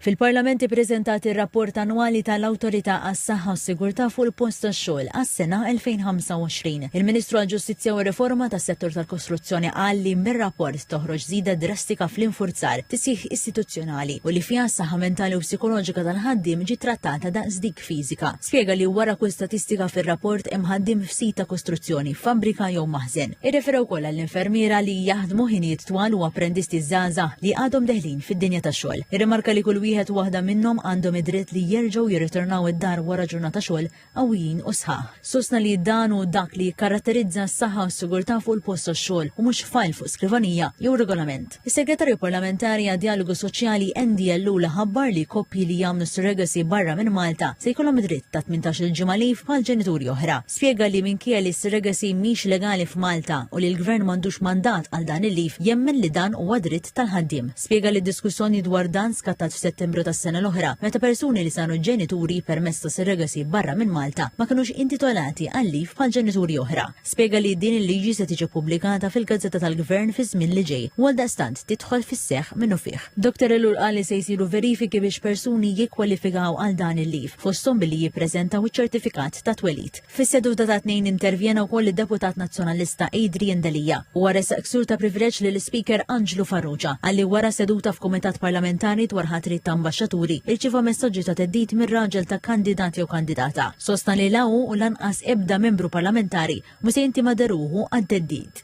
Fil-Parlament ippreżentat ir-Rapport Annwali tal-Awtorità għas-Saħħa u s-Sigurtà fuq il-Post tax-Xogħol għas-sena 2025. Il-Ministru għall-Ġustizzja u r-Riforma tas-Settur tal-Kostruzzjoni qal li mir-rapport toħroġ żieda drastika fl-infurzar, tisħiħ istituzzjonali u li fiha s-saħħa mentali u psikoloġika tal-ħaddiem ġiet trattata daqs dik fiżika. Spjega li wara kull statistika fir-rapport hemm ħaddiem f'sit ta' kostruzzjoni, fabbrika jew maħżen. Irrefera wkoll għall-infermiera li jaħdmu ħinijiet twal u apprendisti żgħażagħ li għadhom deħlin fid-dinja tax-xogħol. Irrimarka li kull wieħed u waħda minnhom għandhom id-dritt li jerġgħu jirritornaw id-dar wara ġurnata xogħol qawwijin u sħaħ. Sostna li dan hu dak li jikkaratterizza s-saħħa u s-sigurtà fuq il-post tax-xogħol u mhux fajl fuq skrivanija jew regolament. Is-Segretarju Parlamentari għad-Djalogu Soċjali Andy Ellul ħabbar li koppji li jagħmlu surrogacy barra minn Malta se jkollhom id-dritt ta' tmintax-il ġimgħa leave bħal ġenituri oħra. Spjega li minkejja li s-surrogacy mhix legali f'Malta u li l-Gvern m'għandux mandat għal dan il-leave, jemmen li dan huwa dritt tal-ħaddiem. Spjega li d-diskussjoni dwar dan skattat f'Settembru tas-sena l-oħra meta persuni li saru ġenituri permezz ta' surrogacy barra minn Malta ma kinux intitolati għal leave bħal ġenituri oħra. spjega li din il-liġi se tiġi ppubblikata fil-gazzetta tal-Gvern fiż-żmien li ġej u għaldaqstant tidħol fis-seħħ minnufih. Doktor Ellul qal li se jsiru verifiki biex persuni jikkwalifikaw għal dan il-leave, fosthom billi jippreżentaw iċ-ċertifikat ta' twelid. Fis-seduta tat-Tnejn intervjena wkoll id-Deputat Nazzjonalista Adrian Delia. Huwa ressaq ksur ta' privileġġ lill-Ispeaker Anġlu Farrugia għalli wara seduta f'Kumitat Parlamentari dwar ħatriet ta' Ambaxxaturi irċieva messaġġi ta' theddid mir-raġel ta' kandidat jew kandidata. Sostna li la hu u lanqas ebda membru parlamentari mhu se jintima deruhu għat-theddid.